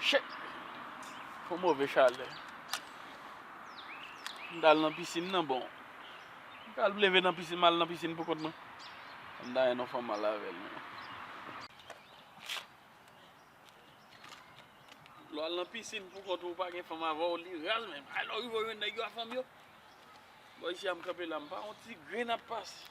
Shit! Fon move chalè. M ta al nan pisin nan bon. M ta al leve nan pisin, m al nan pisin pou kont mwen. M ta gen yon fanm al avèl non. Lè w al nan pisin pou kont ou, ou pa gen fanm avè w, li raz menm. Lè w rive w jwenn nèg yo a fanm yo. Bon isi a m kanpe la, m pa yon ti grenn ap pase.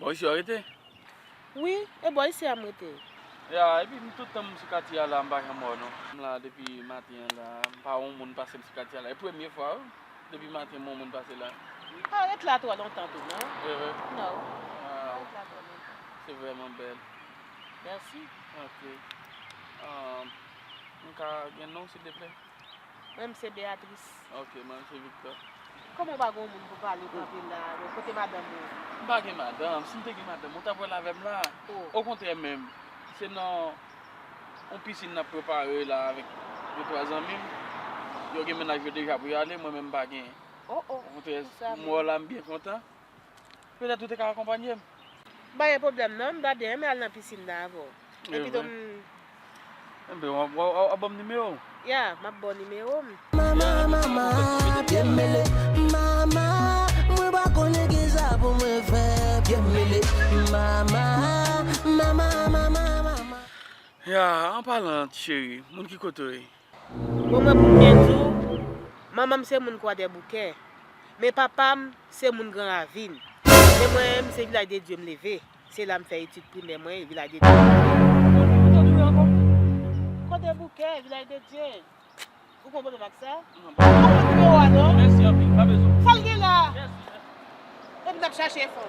Bò isi wap rete? Wi, e bò isi a m rete. Ya, epi m tout tan m sou katye a la m pa janm wè w non. M la depi maten an la, m pa wè yon moun pase m sou katye a la. E premye fwa wi, depi maten m wè yon moun pase la. M pa ret la twò lontan tou non. Se vre? Non, m pa ret la twò lontan. Se vrèman bèl. Mèsi. Ok. M ka gen non w sildeplè? Mwen se Beatrice. Ok mwen se Victor. Kòman ou pa gen yon moun pou pale kanpe la non kote madanm ou. M pa gen madanm si m te gen madanm ou tap wèl avè m la okontrè menm se nan yon piscine nap prepare la avèk 2 3 zanmi m yo gen mennaj yo deja pou yo ale mwen menm m pa gen okontrè m wè w la m byen kontan. Petèt ou te ka akonpanye m. M pa gen pwoblèm non, m ta byen renmen al nan pisin nan avè w. E pito m. Enben, w ap ban m nimewo w? Ya, m ap ba w nimewo m. Mama, mama, pye m mele. Mama, mwen pa konnen ki sa pou mwen fè. Pye m mele. Mama, mama, mama, mama. Ya, an palan, ti cheri, moun ki kote w ye? Bon mwen pou m byen di w, manman m se moun Kwadèboukè, men papa m se moun Gran Ravin. Men mwen menm se Vilaj de Dye m leve, se la m fè etid primè mwen e Vilaj de Dye m leve. Kwadèboukè, Vilaj de Dye, ou gon pwoblèm ak sa? Ou pa pran nimewo a non. Mèsi anpil, pa bezwen. Sa l gen la? Epi n ap chache fon.